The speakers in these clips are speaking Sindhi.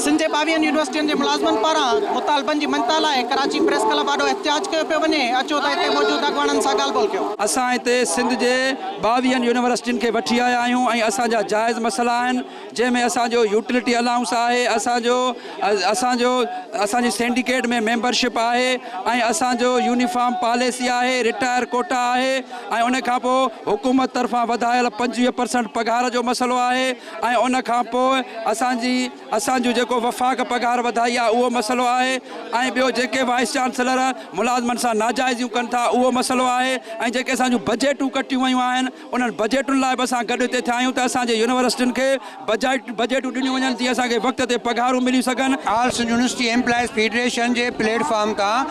سنڌ جي ٻاويهن يونيورسٽين جي ملازمن پاران مطالبن جي مڃتا لاء ڪراچي پريس ڪلب آڏو احتجاج ڪيو پيو وڃي، اچو ته هتي موجود اڳواڻن سان ڳالهه ٻولهه ڪيون. اسان هتي سنڌ جي ٻاويهن يونيورسٽين کي وٺي آيا آهيون ۽ اسان جا جائز مسئلا آهن جنهن ۾ اسان جو يوٽلٽي الائونس آهي، اسان جو اسان جو اسان جي سينڊيڪيٽ ۾ ميمبرشپ آهي ۽ اسان جو يونيفارم پاليسي آهي، رٽائر ڪوٽا آهي. ۽ ان کان پوء حڪومت طرفان وڌايل پنجويهه پرسنٽ پگهار جو مسئلو آهي ۽ ان کان پوء اسان جي اسان جون جيڪو وفاق پگهار وڌائي آهي اهو مسئلو آهي ۽ ٻيو جيڪي وائيس چانسلر ملازمن سان ناجائزيون ڪن ٿا اهو مسئلو آهي ۽ جيڪي اسان جون بجيٽون ڪٽيون ويون آهن انهن بجيٽن لاء به اسان گڏ هتي ٿيا آهيون ته اسان جي يونيورسٽين کي بجيٽ بجيٽون ڏنيون وڃن جيئن اسان کي وقت تي پگهارون ملي سگهن. All Sindh university employees federation جي پليٽ فارم تان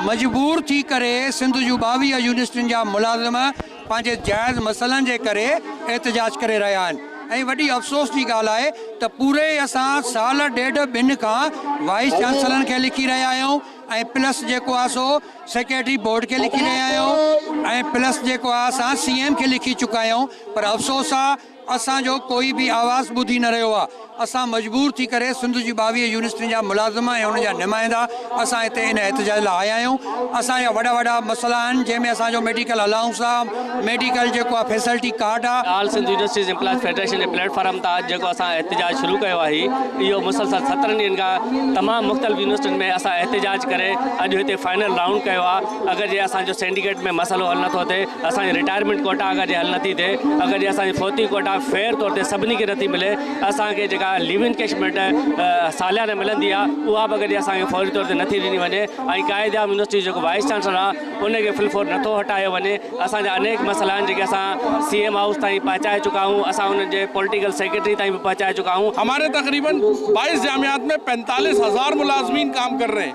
مجبور ٿي ڪري سنڌ جون ٻاويهه يونيورسٽين جا ملازم پنهنجي جائز مسئلن جي ڪري احتجاج ڪري رهيا آهن ۽ وڏي افسوس جي ڳالهه آهي ته پوري اسان سال ڏيڍ ٻن کان وائيس چانسلرن کي لکي رهيا آهيون ۽ پلس جيڪو آهي سو سيڪريٽري بورڊ کي لکي رهيا آهيون ۽ پلس جيڪو آهي اسان سي ايم کي لکي چڪا آهيون پر افسوس آهي اسان جو ڪوئي به آواز ٻڌي نه رهيو آ، اسان مجبور ٿي ڪري سنڌ جي ٻاويهه يونيورسٽين جا ملازم ۽ انهن جا نمائندا اسان هتي ان احتجاج لاء آيا آهيون، اسان جا وڏا وڏا مسئلا آهن جنهن ۾ اسان جو ميڊيڪل الائونس آ، ميڊيڪل جيڪو آ فيسلٽي ڪارڊ آ. All Sindh universities employees federation جي پليٽ فارم تان جيڪو اسان احتجاج شروع ڪيو آهي اهو مسلسل سترهن ڏينهن کان تمام مختلف يونيورسٽين ۾ اسان احتجاج ڪري اڄ هتي فائنل رائونڊ ڪيو آ، اگر جي اسان جو سينڊيڪيٽ ۾ مسئلو حل نٿو ٿئي، اسان جي رٽائرمينٽ ڪوٽا اگر جي حل نٿي ٿئي، اگر جي اسان جي فوتگي ڪوٽا فيئر طور تي سڀني کي نٿي ملي، اسان کي جيڪا ليو انڪيشمينٽ ساليانه ملندي آ اها به اگر جي اسان کي فوري طور تي نٿي ڏني وڃي ۽ قائد اعظم يونيورسٽي جو جيڪو وائيس چانسلر آ ان کي فل فور نٿو هٽايو وڃي، اسان جا انيڪ مسئلا آهن جيڪي اسان سي ايم هائوس تائين پهچائي چڪا آهيون، اسان انهن جي پوليٽيڪل سيڪريٽري تائين به پهچائي چڪا آهيون. هماري تقريبن بائيس جامعات مين پينتاليس هزار ملازمين ڪام ڪر رهي هين.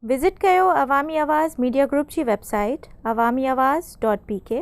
وزٽ ڪيو عوامي آواز ميڊيا گروپ جي website Awami Awaz dot P ڪي.